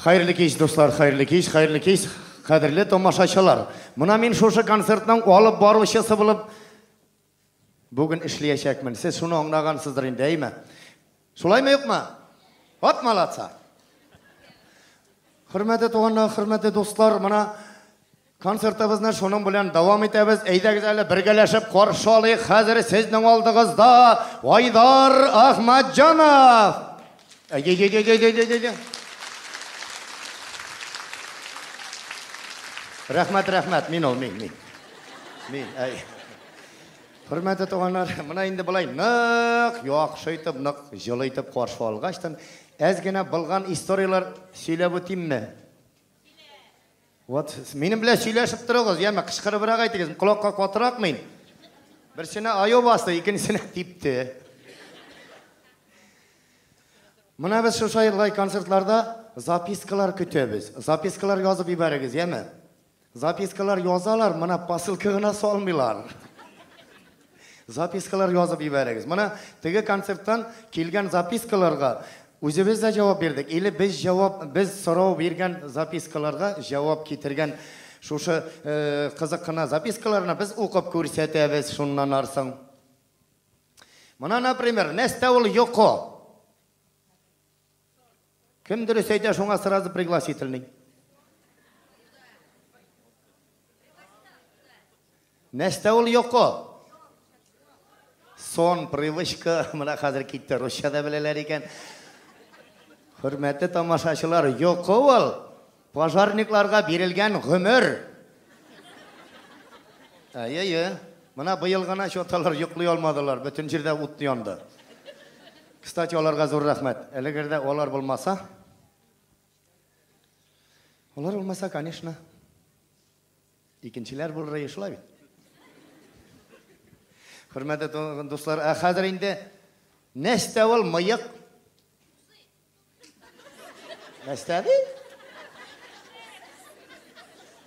Хәерле кич, дуслар, хәерле кич, хәерле кич, кадерле томашачылар. Мына мин шушы концертның алып баручысы булып бүген эшләячәкмен. Сез шуны аңлагансыздыр инде, әйме? Шулаймы юкмы? Вот молодца. Хөрмәтле туганнар, хөрмәтле дуслар, мына Концертыбызны шуның белән дәвам итәбез. Әйдәгез әле бергәләшеп каршы алыйк. Хәзер сезнең алдыгызда Айдар Ахматҗанов. Рәхмәт, рәхмәт. Мин ул, мин, мин. Мин, әй. Хөрмәтле туганнар, менә инде былай нык, яхшы итеп, нык җылы итеп каршы алгачтан, әз генә булган историяләр сөйләп үтимме? Вот, минем белән сөйләшеп торыгыз, яме кычкырыбрак әйтегез, колакка катырак мин. Берсенә аю басты, икенчесенә типте. Менә без шушы елгай концертларда запискалар көтәбез. Запискалар язып ибәрегез, яме? Запискалар язалар, менә посылка гына салмыйлар. Запискалар язып җибәрегез. Менә теге концерттан килгән запискаларга үзебез дә җавап бирдек. Или без җавап, без сорау биргән запискаларга җавап китергән шушы э, кызык кына запискаларны без укып күрсәтәбез шуннан арсың. Мына, например, нәрсә ул йокы? Кем дөрес әйтә, шуңа сразу пригласительный. Нәрсә ул йокы? Сон, привычка, менә хәзер китте, русча да беләләр икән. Хөрмәтле тамашачылар, йокы ул. Пожарникларга бирелгән гомер. Әйе-е. Мына быел гына чоталар йоклый алмадылар, бөтен җирдә ут янды. Кстати, аларга зур рәхмәт. Әлегердә алар булмаса, Алар булмаса, конечно, икенчеләр булыр иде шулай бит. Хөрмәтле дуслар, ә хәзер инде нәрсә ул мыек? Нәрсә ди?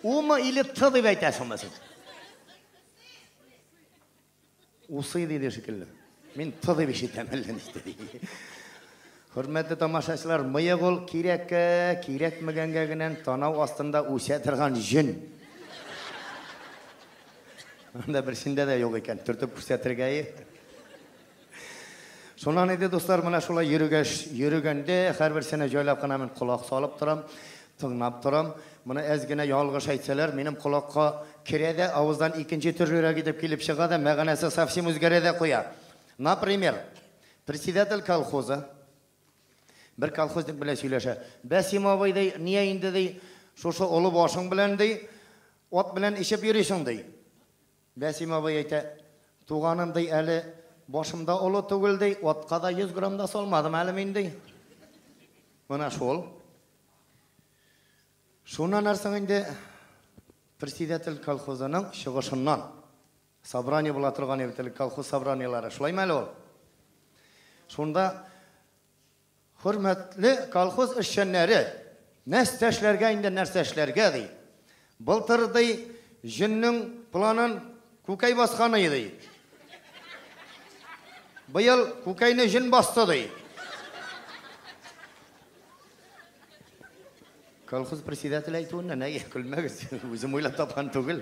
Ума или ты дип әйтәсеңме син? Усы диде шикелле. Мин ты дип ишетәм әллә ничек. Хөрмәтле тамашачылар, мыек ул кирәккә, кирәкмәгәнгә генә танау астында үсә торган җен. Анда берсендә дә юк икән, төртеп күрсәтергә. Шуннан иде, дуслар, менә шулай йөрүгәш, йөрүгәндә һәрберсенә җайлап кына мин колак салып торам, тыңлап торам. Моны әз генә ялгыш әйтсәләр, минем колакка керә дә, авыздан икенче төрлерәк итеп килеп чыга да, мәгънәсе совсем үзгәрә дә куя. Например, председатель колхоза бер колхозник белән сөйләшә. Бәсим абый ди, ния инде ди, шушы олы башың белән ди, ат белән ишеп йөрисең ди. Бәсим абый әйтә, Туганым, ди, әле башым да олы түгел, ди, атка да йөз грамм да салмадым әле мин, ди. Менә шул. Шуннан нәрсең инде председатель колхозының чыгышыннан собрание була торган иде бит элек, колхоз собраниеләре. Шулаймы әле ул? Шунда Хөрмәтле колхоз эшчәннәре, нәрсә эшләргә инде, нәрсә эшләргә, ди. Былтыр, ди, җөннең планын күкәй баскан иде. Быел күкәйне җөн басты, ди. Колхоз председатель әйтүеннән, әйе, көлмәгез, үзем уйлап тапкан түгел.